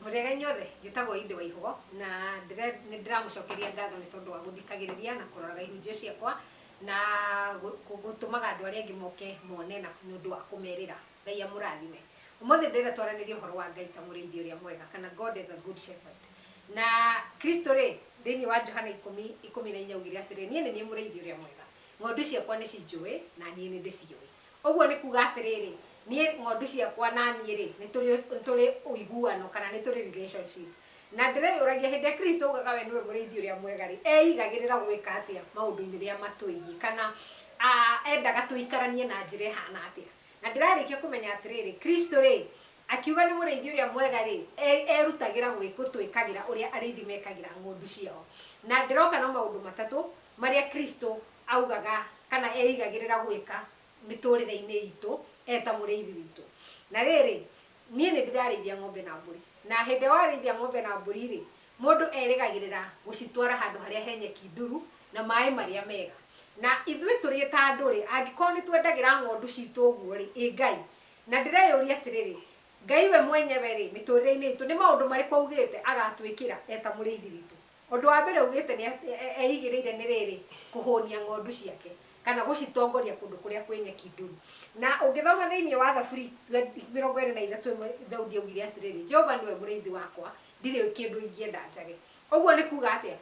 Mũrĩega inyuothe, njĩtagwo Inde Waihũgo na ndĩre- nĩ ndĩramũcokeria ngatho nĩ tondũ wa gũthikagĩrĩria na kũroraga ihunjio ciakwa na gũ- gũ- gũtũmaga andũ arĩa angĩ moke mone na nĩ ũndũ wa kũmerĩra Ngai amũrathime. Ũmũthĩ ndĩrenda twaranĩrie ũhoro wa Ngai ta mũrĩithi ũrĩa mwega kana God as a good shepherd. Na Kristo rĩ, thĩinĩ wa Johana ikũmi, ikũmi na inya augire atĩrĩ, niĩ nĩ niĩ mũrĩithi ũrĩa mwega. Ng'ondu ciakwa nĩ cinjũĩ na niĩ nĩ ndĩciũĩ. Ũguo nĩ kuga atĩrĩrĩ, niĩ ng'ondu ciakwa na niĩ rĩ, nĩ tũrĩ, nĩ tũrĩ ũiguano kana nĩ tũrĩ relationship. Na ndĩreyũragia hĩndĩ ĩrĩa Kristo augaga we nĩwe mũrĩithi ũrĩa mwega rĩ, eigagĩrĩra gwĩka atĩa maũndũ-inĩ rĩrĩa matwĩgiĩ kana endaga tũikaranie na njĩra ĩhana atĩa? Na ndĩrarĩkia kũmenya atĩrĩrĩ, Kristo-rĩ, akiuga nĩ mũrĩithi ũrĩa mwega-rĩ, e, erutagĩra gwĩ, gũtwĩkagĩra ũrĩa arĩithi mekagĩra ng'ondu ciao. Na ndĩroka na maũndũ matatũ marĩa Kristo augaga kana eĩgagĩrĩra gwĩka mĩtũrĩre-inĩ itũ e ta mũrĩithi witũ. Na rĩrĩ, niĩ nĩ ndĩrarĩithia ng'ombe na mbũri. Na hĩndĩ ĩrĩa warĩithia ng'ombe na mbũri-rĩ, Mũndũ erĩgagĩrĩra gũcitwara handũ harĩa he nyeki nduru na maaĩ marĩa mega. Na ithuĩ tũrĩ ta andũ-rĩ, angĩkorwo nĩ twendagĩra ng'ondu citũ ũguo-rĩ, ĩ Ngai! Na ndĩreyũria atĩrĩrĩ, Ngai we mwenyewe-rĩ, mĩtũrĩre-inĩ itũ, nĩ maũndũ marĩkũ augĩte agatwĩkĩra e ta Mũrĩithi witũ? Ũndũ wa mbere augĩte nĩ atĩ eigĩrĩire nĩ rĩrĩ, kũhũnia ng'ondu ciake, kana gũcitongoria kũndũ kũrĩa kwĩ nyeki nduru. Na ũngĩthoma thĩinĩ wa Thaburi mĩrongo ĩrĩ na ithatũ ĩmwe, Daudi augire atĩrĩrĩ, Jehova nĩwe mũrĩithi wakwa, Ndirĩ kĩndũ ingĩenda njage. Ũguo nĩ kuuga atĩa?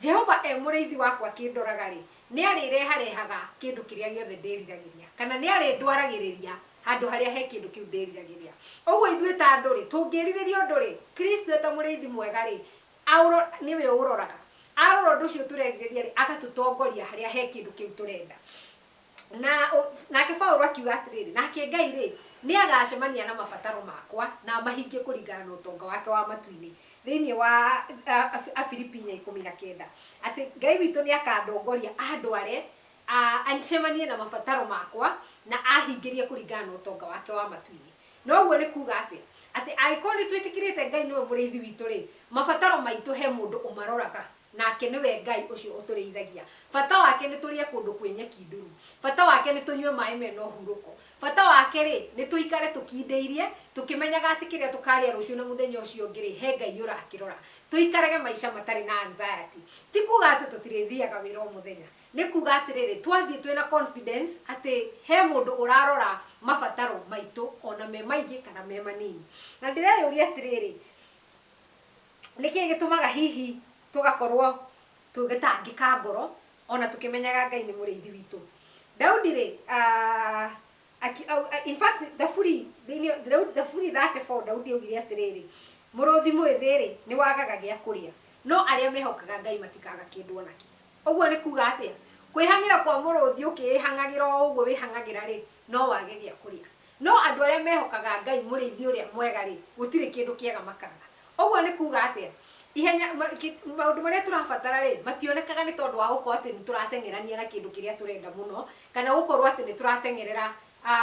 Jehova e Mũrĩithi wakwa akĩndoraga-rĩ, nĩ arĩreharehaga kĩndũ kĩrĩa gĩothe ndĩriragĩria, kana nĩ arĩndwaragĩrĩria handũ harĩa he kĩndũ kĩu ndĩriragĩria. Ũguo ithuĩ ta andũ-rĩ, tũngĩrirĩria ũndũ-rĩ, Kristo e ta Mũrĩithi mwega-rĩ, nĩwe ũũroraga. Arora ũndũ ũcio tũrerirĩria-rĩ, agatũtongoria harĩa he kĩndũ kĩu tũrenda. Na, ũ, nake Paulo akiuga atĩrĩrĩ, Nake Ngai-rĩ, nĩagacemania na mabataro makwa, na amahingie kũringana na ũtonga wake wa matu-inĩ, thĩinĩ wa, a, a, Afilipi inya ikũmi na kenda, atĩ Ngai witũ nĩakandongoria andware, a, acemanie na mabataro makwa, na ahingĩrie kũringana na ũtonga wake wa matu-inĩ. Na ũguo nĩ kuuga atĩa? Atĩ angĩkorwo nĩtwĩtĩkĩrĩte Ngai nĩwe Mũrĩithi witũ-rĩ, mabataro maitũ he mũndũ ũmaroraga. Nake nĩwe Ngai ũcio ũtũrĩithagia. Bata wake nĩ tũrĩe kũndũ kwĩ nyeki nduru. Bata wake nĩ tũnyue maĩ me na ũhurũko. Bata wake-rĩ, nĩ tũikare tũkindĩirie, tũkĩmenyaga atĩ kĩrĩa tũkarĩa rũciũ na mũthenya ũcio ũngĩ-rĩ, he Ngai ũrakĩrora. Tũikarage maica matarĩ na anxiety. Ti kuuga atĩ tũtirĩthiaga wĩra o mũthenya. Nĩ kuuga atĩrĩrĩ, twathiĩ twĩ na confidence atĩ he mũndũ ũrarora mabataro maitũ, o na me maingĩ kana me manini. Na ndĩreyũria atĩrĩrĩ, Nĩ kĩĩ gĩtũmaga hihi tũgakorũo tũgĩtangĩka ngoro o na tũkĩmenyaga Ngai nĩ Mũrĩithi witũ? Daudi-rĩ, a, in fact, Thaburi, Thaburi 34, Daudi augire atĩrĩrĩ, Mũrũthi mwĩthĩ-rĩ, nĩ wagaga gĩa kũrĩa, no arĩa mehokaga Ngai matikaga kĩndũ o na kĩ. Ũguo nĩ kuuga atĩa? Kwĩhang'ĩra kwa mũrũthi ũkĩĩhang'agĩra o ũguo wĩhang'agĩra-rĩ, no wage gĩa kũrĩa. No andũ arĩa mehokaga Ngai Mũrĩithi ũrĩa mwega-rĩ, gũtirĩ kĩndũ kĩega makaga. Ũguo nĩ kuuga atĩa? Ihenya, maũndũ marĩa tũrabatara-rĩ, mationekaga nĩ tondũ wa gũkorwo atĩ nĩ tũrateng'erania na kĩndũ kĩrĩa tũrenda mũno, kana gũkorwo atĩ nĩ tũrateng'erera, a,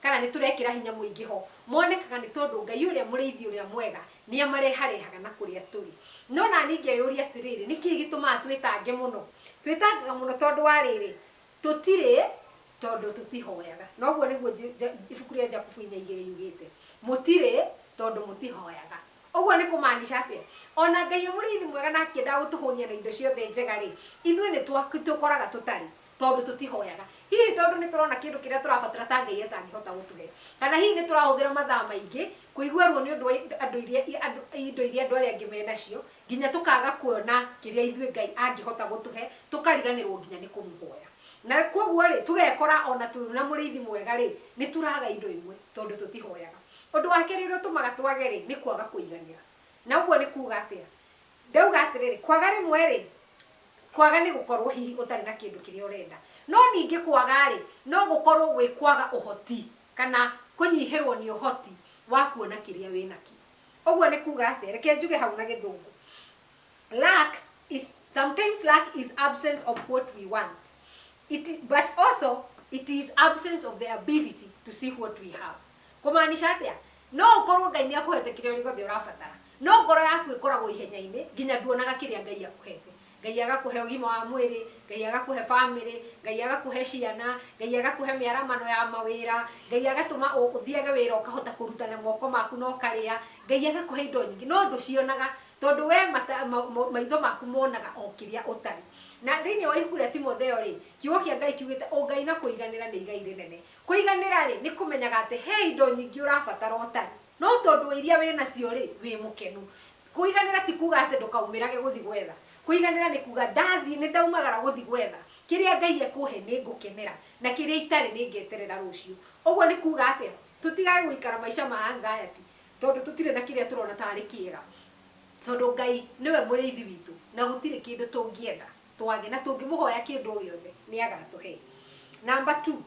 kana nĩ tũrekĩra hinya mũingĩ ho. Monekaga nĩ tondũ Ngai ũrĩa Mũrĩithi ũrĩa mwega nĩ amareharehaga na kũrĩa tũrĩ. No naniĩ ngeyũria atĩrĩrĩ, nĩ kĩĩ gĩtũmaga twĩtange mũno? Twĩtangaga mũno tondũ wa rĩrĩ, Tũtirĩ, tondũ tũtihoyaga. Na ũguo nĩguo ibuku rĩa Jakubu inya igĩrĩ yugĩte. Mũtirĩ, tondũ mũtihoyaga. Ũguo nĩ kũmaanisha atĩa? O na Ngai e Mũrĩithi mwega na akĩendaga gũtũhũnia na indo ciothe njega-rĩ, ithuĩ nĩ tũkoraga tũtarĩ, tondũ tũtihoyaga. Hihi tondũ nĩ tũrona kĩndũ kĩrĩa tũrabatara ta Ngai atangĩhota gũtũhe. Kana hihi nĩ tũrahũthĩra mathaa maingĩ kũigua ruo nĩ ũndũ wa indo iria andũ arĩa angĩ menacio, nginya tũkaaga kuona kĩrĩa ithuĩ Ngai angĩhota gũtũhe, tũkariganĩrũo nginya nĩ kũmũhoya. Na kwoguo-rĩ, tũgekora o na twĩ na Mũrĩithi mwega-rĩ, nĩ tũraga indo imwe tondũ tũtihoyaga. Ũndũ wa kerĩ ũrĩa ũtũmaga twage-rĩ, nĩ kwaga kũiganĩra. Na ũguo nĩ kuuga atĩa? Ndauga atĩrĩrĩ, kwaga rĩmwe-rĩ, kwaga nĩ gũkorũo hihi ũtarĩ na kĩndũ kĩrĩa ũrenda. No ningĩ kwaga-rĩ, no gũkorũo gwĩ kwaga ũhoti kana kũnyihĩrũo nĩ ũhoti wa kuona kĩrĩa wĩ nakĩo. Ũguo nĩ kuuga atĩa? Reke njuge hau na Gĩthũngũ. Lack is, sometimes lack is absence of what we want. It, but also it is absence of the ability to see what we have. Kũmaanisha atĩa? No ũkorwo Ngai nĩakũhete kĩrĩa gĩothe ũrabatara. No ngoro yaku ĩkoragwo ihenya-inĩ nginya nduonaga kĩrĩa Ngai akũhete. Ngai agakũhe ũgima wa mwĩrĩ, Ngai agakũhe bamĩrĩ, Ngai agakũhe ciana, Ngai agakũhe mĩaramano ya mawĩra, Ngai agatũma ũthiage wĩra ũkahota kũruta na moko maku na ũkarĩa, Ngai agakũhe indo nyingĩ no ndũcionaga tondũ we maitho maku monaga o kĩrĩa ũtarĩ. Na thĩinĩ wa ibuku rĩa Timotheo rĩ, kiugo kĩa Ngai kiugĩte ũngai na kũiganĩra nĩ igai rĩnene. Kũiganĩra rĩ, nĩ kũmenyaga atĩ he indo nyingĩ ũrabatara ũtarĩ, no tondũ wa iria wĩnacio rĩ, wĩ mũkenu. Kũiganĩra ti kuuga atĩ ndũkaumĩrage gũthiĩ gwetha. Kũiganĩra nĩ kuuga, ndathiĩ nĩ ndaumagara gũthiĩ gwetha. Kĩrĩa Ngai ekũhe nĩ ngũkenera, na kĩrĩa itarĩ nĩ ngeterera rũciũ. Ũguo nĩ kuuga atĩa? Tũtigage gũikara maica ma anxiety tondũ tũtirĩ na kĩrĩa tũrona ta arĩ kĩega, tondũ Ngai nĩwe Mũrĩithi witũ na gũtirĩ kĩndũ tũngĩenda. twage, na tũngĩmũhoya kĩndũ o gĩothe, nĩagatũhe. Namba two,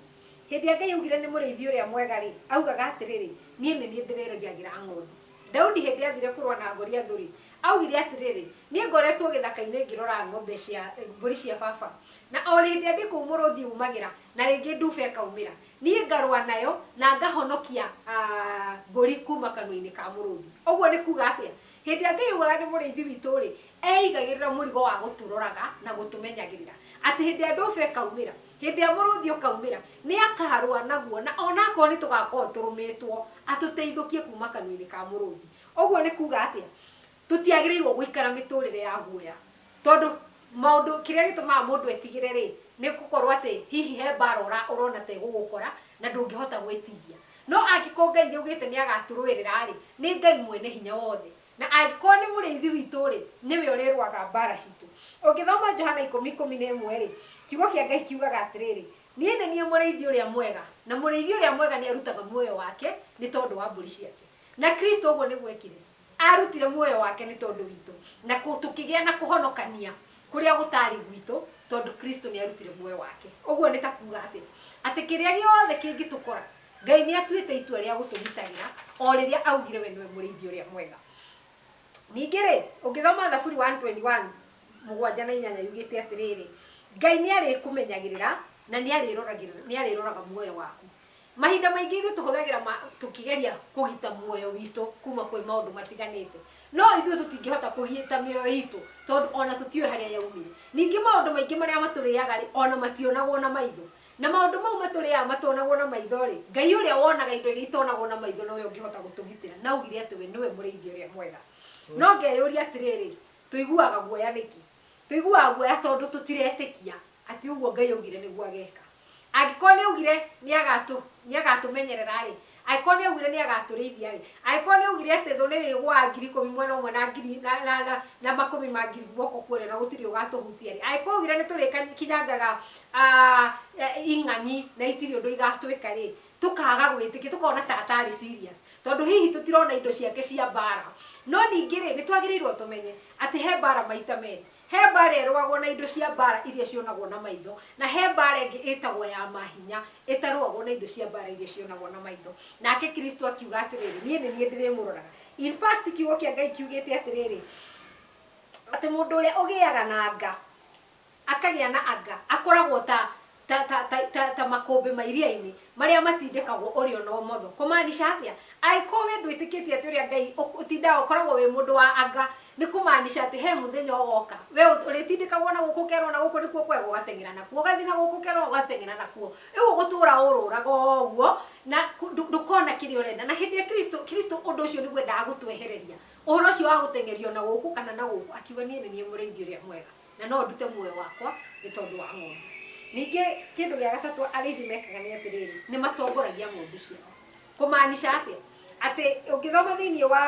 hĩndĩ ĩrĩa Ngai augire nĩ mũrĩithi ũrĩa mwega-rĩ, augaga atĩrĩrĩ, niĩ nĩ niĩ ndĩrĩrĩagĩra ng'ondu. Daudi hĩndĩ athire kũrũa na Goliathu-rĩ, augire atĩrĩrĩ, niĩ ngoretwo gĩthaka-inĩ ngĩrora ng'ombe cia, mbũri cia baba, na o hĩndĩ ĩrĩa ndĩ kũu mũrũthi umagĩra, na rĩngĩ nduba ĩkaumĩra, niĩ ngarũa nayo, na ngahonokia mbũri kuma kanua-inĩ ka mũrũthi. Ũguo nĩ kuga atĩa? Hĩndĩ ĩrĩa Ngai augaga nĩ Mũrĩithi witũ-rĩ, eeigagĩrĩra mũrigo wa gũtũroraga na gũtũmenyagĩrĩra. Atĩ hĩndĩ ĩrĩa ndũba ĩkaumĩra, hĩndĩ ĩrĩa mũrũthi ũkaumĩra, nĩ akaarũa naguo, na o na akorwo nĩ tũgaakorwo tũrũmĩtwo, atũteithũkie kuuma kanua-inĩ ka mũrũthi. Ũguo nĩ kuuga atĩa? Tũtiagĩrĩirũo gũikara mĩtũũrĩre ya guoya. Tondũ maũndũ, kĩrĩa gĩtũmaga mũndũ etigĩre rĩ, nĩ gũkorwo atĩ hihi he mbaara ũra, ũrona ta ĩgũgũkora, na ndũngĩhota gwĩtiria. No angĩkorwo Ngai nĩ augĩte nĩ agatũrũĩrĩra rĩ, nĩ Ngai Mwene Hinya Wothe. Na angĩkorwo nĩ Mũrĩithi witũ rĩ, nĩwe ũrĩrũaga mbaara citũ. Ũngĩthoma Johana ikũmi, ikũmi na ĩmwe rĩ, Kiugo kĩa Ngai kiugaga atĩrĩrĩ, Niĩ nĩ niĩ mũrĩithi ũrĩa mwega, na mũrĩithi ũrĩa mwega nĩ arutaga muoyo wake nĩ tondũ wa mbũri ciake. Na Kristo ũguo nĩguo ekire. Aarutire muoyo wake nĩ tondũ witũ, na kũ, tũkĩgĩa na kũhonokania kũrĩa gũtaarĩ gwitũ, tondũ Kristo nĩ aarutire muoyo wake. Ũguo nĩ ta kuuga atĩa? Atĩ kĩrĩa gĩothe kĩngĩtũkora, Ngai nĩ atuĩte itua rĩa gũtũgitagĩra o rĩrĩa aaugire we nĩwe Mũrĩithi ũrĩa mwega. Ningĩ-rĩ, ũngĩthoma Thaburi 121, mũgwanja na inyanya yugĩte atĩrĩrĩ, Ngai nĩ arĩkũmenyagĩrĩra na nĩ arĩroragĩrĩra, nĩ arĩroraga muoyo waku. Mahinda maingĩ ithuĩ tũhũthagĩra ma, tũkĩgeria kũgita muoyo witũ kuma kwĩ maũndũ matiganĩte. No ithuĩ tũtingĩhota kũgita mĩoyo itũ tondũ ona tũtiũĩ harĩa yaumire. Ningĩ maũndũ maingĩ marĩa matũrĩaga-rĩ, ona mationagwo na maitho. Na maũndũ mau matũrĩaga matonagwo na maitho-rĩ, Ngai ũrĩa wonaga indo iria itonagwo na maitho nowe ũngĩhota gũtũgitĩra. Na augire atĩ we nĩwe mũrĩithi ũrĩa mwega. No ngeyũria atĩrĩrĩ, tũiguaga guoya nĩkĩ? Tũiguaga guoya tondũ tũtiretĩkia atĩ ũguo Ngai augire nĩguo ageeka. Angĩkorwo nĩ augire nĩ agatũ, nĩ agatũmenyerera-rĩ, angĩkorwo nĩ augire nĩ agatũrĩithia-rĩ, angĩkorwo nĩ augire atĩ thũ nĩĩrĩgũaga ngiri ikũmi mwena ũmwe na ngiri, na, na, na, na makũmi ma ngiri guoko kwa ũrĩo na gũtirĩ ũgatũhutia-rĩ, angĩkorwo augire nĩ tũrĩkinyangaga, ah, ing'ang'i na itirĩ ũndũ igatwĩka-rĩ, tũkaaga gwĩtĩkia, tũkona ta ataarĩ serious, tondũ hihi tũtirona indo ciake cia mbaara. No ningĩ-rĩ, nĩ twagĩrĩirũo tũmenye atĩ he mbaara maita merĩ. He mbaara ĩrũagwo na indo cia mbaara iria cionagwo na maitho, na he mbaara ĩngĩ ĩtagwo ya ma hinya, ĩtarũagwo na indo cia mbaara iria cionagwo na maitho. Nake Kristo akiuga atĩrĩrĩ, Niĩ nĩ niĩ ndĩrĩmũroraga. In fact, Kiugo kĩa Ngai kiugĩte atĩrĩrĩ, atĩ mũndũ ũrĩa ũgĩaga na nga. Akagĩa na anga. Akoragwo ta, ta, ta, ta, ta, ta makũmbĩ ma iria-inĩ, marĩa matindĩkagwo ũrĩo na ũmotho. Kũmaanisha atĩa? Angĩkorwo wee ndwĩtĩkĩtie atĩ ũrĩa Ngai ũtindaga ũkoragwo wĩ mũndũ wa anga, nĩ kũmaanisha atĩ he mũthenya ũgoka, wee ũrĩtindĩkagwo na gũkũ ũkerwo na gũkũ nĩkuo kwega ũgateng'era nakuo, ũgathiĩ na gũkũ ũkerwo ũgateng'era nakuo. Rĩu ũgũtũũra ũrũũraga o ũguo, na ndũkona kĩrĩa ũrenda. Na hĩndĩ ĩrĩa Kristũ, Kristũ ũndũ ũcio nĩguo endaga gũtwehereria, ũhoro ũcio wa gũteng'erio na gũkũ kana na gũkũ, akiuga, Niĩ nĩ niĩ Mũrĩithi ũrĩa mwega. Na no ndute muoyo wakwa nĩ tondũ wa ng'ondu. Ningĩ kĩndũ gĩa gatatũ arĩithi mekaga nĩ atĩrĩrĩ, nĩ matongoragia ng'ondu ciao. Kũmaanisha atĩa? Atĩ ũngĩthoma thĩinĩ wa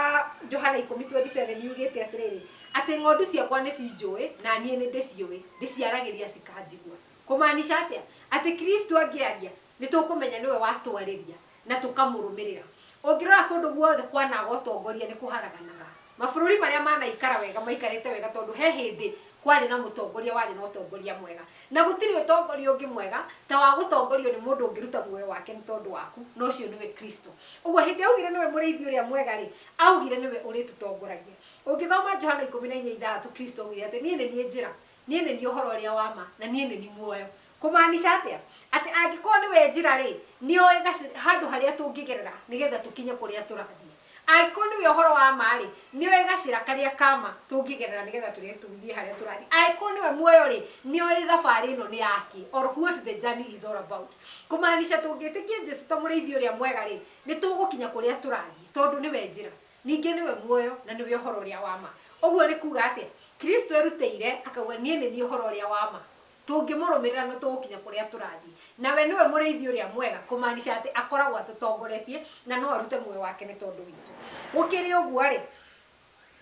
Johana ikũmi twendi cebeni yugĩte atĩrĩrĩ, atĩ ng'ondu ciakwa nĩ cinjũĩ na niĩ nĩ ndĩciũĩ, ndĩciaragĩria cikanjigua. Kũmaanisha atĩa? Atĩ Kristo angĩaria Nĩ tũkũmenya nĩwe watwarĩria na tũkamũrũmĩrĩra. Ũngĩrora kũndũ guothe kwanaga ũtongoria nĩ kũharaganaga. Mabũrũri marĩa manaikara wega maikarĩte wega tondũ he hĩndĩ kwarĩ na mũtongoria warĩ na ũtongoria mwega. Na gũtirĩ ũtongoria ũngĩ mwega ta wa gũtongorio nĩ mũndũ ũngĩruta muoyo wake nĩ tondũ waku, na ũcio nĩwe Kristo. Ũguo hĩndĩ augire nĩwe mũrĩithi ũrĩa mwega rĩ, augire nĩwe ũrĩtũtongoragia. Ũngĩthoma Johana ikũmi na inya ithathatũ Kristo augire atĩ, Niĩ nĩ niĩ njĩra, niĩ nĩ niĩ ũhoro ũrĩa wa ma, na niĩ nĩ niĩ muoyo. Kũmaanisha atĩa? Atĩ angĩkorũo nĩwe njĩra-rĩ, nĩ oĩ handũ harĩa tũngĩgerera nĩgetha tũkinye kũrĩa tũrathiĩ. Angĩkorũo nĩwe ũhoro wa ma-rĩ, nĩ oĩ gacĩra karĩa ka ma tũngĩgerera nĩgetha tũthiĩ harĩa tũrathiĩ. Angĩkorũo nĩwe muoyo-rĩ, nĩ oĩ thabarĩ ĩno nĩ ya kĩ, or what the journey is all about. Kũmaanisha tũngĩtĩkia Jesu ta Mũrĩithi ũrĩa mwega-rĩ, nĩ tũgũkinya kũrĩa tũrathiĩ tondũ nĩwe njĩra, ningĩ nĩwe muoyo, na nĩwe ũhoro ũrĩa wa ma. Ũguo nĩ kuuga atĩa? Kristo erutĩire akauga, Niĩ nĩ niĩ ũhoro ũrĩa wa ma. Tũngĩmũrũmĩrĩra nĩ tũgũkinya kũrĩa tũrathiĩ. Na we nĩwe mũrĩithi ũrĩa mwega, kũmaanisha atĩ akoragwo atũtongoretie na no arute muoyo wake nĩ tondũ witũ. Gũkĩrĩ ũguo-rĩ,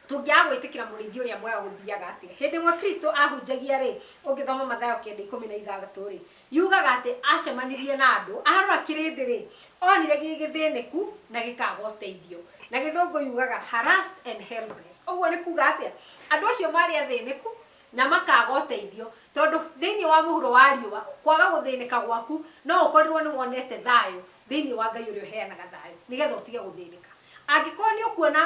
tũngĩaga gwĩtĩkĩra mũrĩithi ũrĩa mwega gũthiaga atĩa? Hĩndĩ ĩmwe Kristo aahunjagia-rĩ, ũngĩthoma Mathayo kenda ikũmi na ithathatũ-rĩ, yugaga atĩ aacemanirie na andũ, arora kĩrĩndĩ-rĩ, onire gĩ gĩthĩnĩku na gĩkaaga ũteithio. Na Gĩthũngũ yugaga harassed and helpless. Ũguo nĩ kuuga atĩa? Andũ acio maarĩ athĩnĩku, Na makaaga ũteithio. Tondũ thĩinĩ wa mũhuro wa riũa, kwaga gũthĩnĩka gwaku, no ũkorirũo nĩ wonete thayũ thĩinĩ wa Ngai ũrĩa ũheanaga thayũ, nĩgetha ũtige gũthĩnĩka. Angĩkorũo nĩ ũkuona,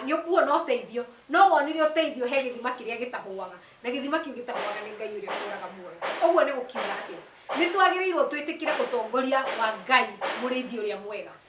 nĩ ũkuona ũteithio, no wonire ũteithio he gĩthima kĩrĩa gĩtahũaga, na gĩthima kĩu gĩtahũaga nĩ Ngai ũrĩa ũtũũraga muoyo. Ũguo nĩ gũkiuga atĩa? Nĩ twagĩrĩirũo twĩtĩkĩre ũtongoria wa Ngai, Mũrĩithi ũrĩa mwega.